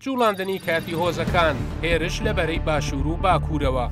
جوڵاندنی کاتی هۆزەکان، هێرش لە بەرەی باشوور و باکوورەوە.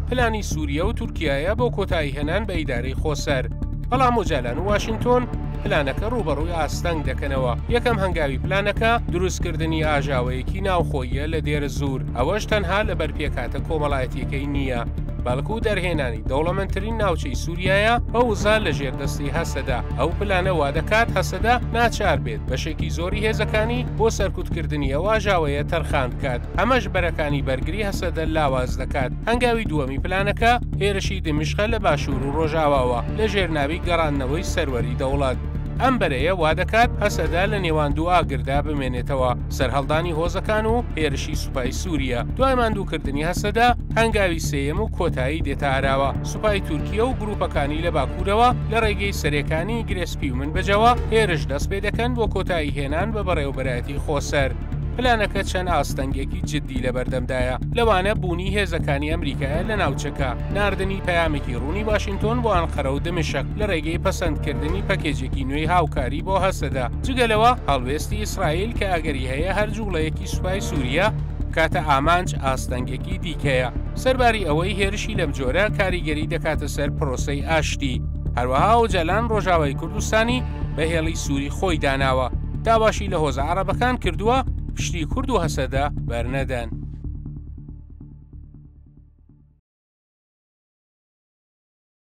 پلانی سووریە و تورکایە بۆ کۆتایی هێنان بە ئیدارەی خۆسەر. بەڵام ئۆجالان و واشنگتۆن پلانەکە ڕووبەڕووی ئاستەنگ دەکەنەوە یەکەم هەنگاوی پلانەکە دروستکردنی ئاژاوەیەکی ناوخۆییە لە دێرە زوور ئەوەش تەنها لەبەر پێکهاتە کۆمەڵایەتیەکەی نییە بەڵکو دەرهێنانی دەوڵەمەندترین ناوچەی سووریایە بە وزە لە ژێردەستی هەسەدە ئەو پلانە وا دەکات هەسەدە ناچار بێت بەشێکی زۆری هێزەکانی بۆ سەرکوتکردنی ئەو ئاژاوەیە تەرخان بکات ئەمەش بەرەکانی بەرگری هەسەدە لاواز دەکات هەنگاوی دووەمی پلانەکە هێرشی دمشقە لە باشوور و ڕۆژاواوە لە ژێرناوی گەڕاندنەوەی سەروەری دەوڵەت ئەم بەرەیە وا دەکات هەسەدا لە نێوان دوو ئاگردا بمێنێتەوە سەرهەڵدانی هۆزەکان و هێرشی سوپای سوریا دوای ماندووکردنی هەسەدە هەنگاوی سێیەم و کۆتایی دێتە ئاراوە، سوپای تورکیە و گروپەکانی لە باکورەوە لە ڕێگەی سەرێکانی گرێ سپی و منبجەوە هێرش دەست پێ دەکەن بۆ کۆتایی هێنان بە بەڕێوبەرایەتی خۆسەر. پلانەکە چەند ئاستەنگێکی جدی لەبەردەمدایە، لەوانە بوونی هێزەکانی ئەمریکایە لە ناوچەکە، ناردنی پەیامێکی ڕوونی واشینتۆن بۆ ئەنقەرە و دمشق لە ڕێگەی پەسەندکردنی پەکێجێکی نوێی هاوکاری بۆ هەسەدە، جگە لەوە هەڵوێستی ئیسرائیل کە ئەگەری هەیە هەر جوڵەیەکی سەرۆکی سوپای سووریە بکاتە ئامانج ئاستەنگێکی دیکەیە، سەرباری ئەوەی هێرشی لەم جۆرە کاریگەری دەکاتە سەر پرۆسەی ئاشتی، هەروەها ئۆجالان ڕۆژاوای کوردستانی بە هێڵی سووری خۆی داناوە، داواشی لە هۆزە عەڕەبەکان کردووە پشتی کورد و هەسەدە بەرنەدەن.